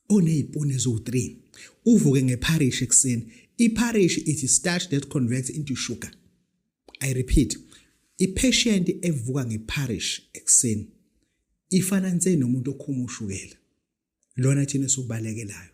onezipuni eziwu-3 uvuke ngepharishi ekuseni ipharishi ithi starch that converts into sugar i repeat i-patient evuka ngepharishi ekuseni ifana nse nomuntu okhuma ushukela lona thina esiwubalekelayo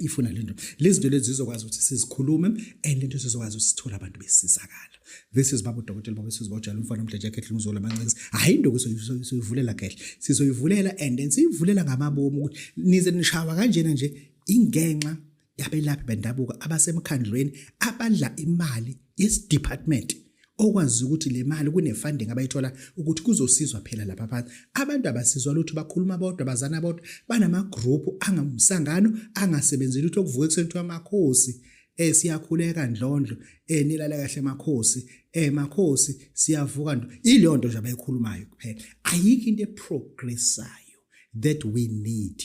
ifuna lento lezinto lezi zizokwazi ukuthi sizikhulume and into sizokwazi ukuthi sithole abantu besizakala this is baba udokotela baba sisi bojala umfana omdla jacket lunguzo lamancinci hayi into kusoyivulela kahle sizoyivulela and then siyivulela ngamabomu ukuthi nize nishawa kanjena nje ingenxa yabelaphi bendabuko abasemkhandlweni abadla imali yesidepartment okwazi ukuthi le mali kune-funding abayithola ukuthi kuzosizwa phela lapha phansi abantu abasizwa lutho bakhuluma bodwa bazana bodwa banamagruphu angamsangano angasebenzi lutho okuvuka ekuseni kuthiwa amakhosi um siyakhuleka ndlondlo um nilale kahle makhosi um makhosi siyavuka ndo ileyo nto nje abayikhulumayo kuphela ayikho into eprogressayo that we need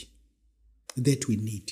that we need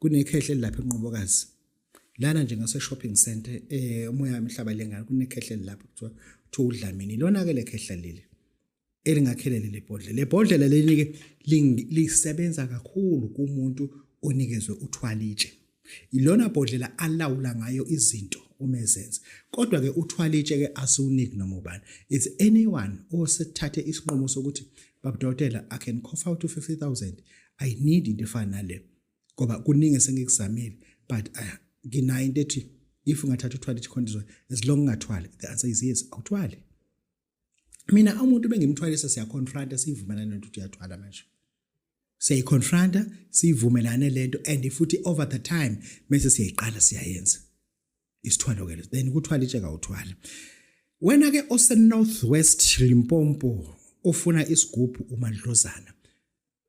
kunekhehle lapha enqobokazi lana nje ngase shopping center eh umoya wemhlaba lengane kunekhehle lapha kuthiwa kuthiwa udlamini lona ke lekhehla leli elingakhelele lebhodlela lebhodlela leli ke lisebenza kakhulu kumuntu onikezwe uthwalitshe ilona bhodlela alawula ngayo izinto uma ezenza kodwa ke uthwalitshe ke asiwuniki noma ubani it's anyone osethathe isinqumo sokuthi babudokotela i can cough out 50000 i need into efana nale ngoba kuningi esengikuzamile but ah, nginayo into ethi if ungathatha uthwale icondition as long ungathwali the answer is yes awuthwali mina umuntu bengimthwalisa siyaconfronta siyivumelana nento ukuthi uyathwala manje siyayiconfronta siyivumelane lento and futhi over the time mase siyayiqala siyayenza isithwalo ke then kuthwala itshe kawuthwala wena ke ose northwest Limpopo ofuna isigubhu umadlozana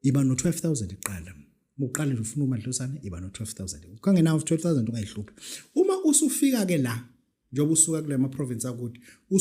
iba no 12000 iqala uqale nje ufuna umadlozana iba no 12000 ukangena 12000 ungayihluphi uma usufika ke la njengoba usuka kule ma province akude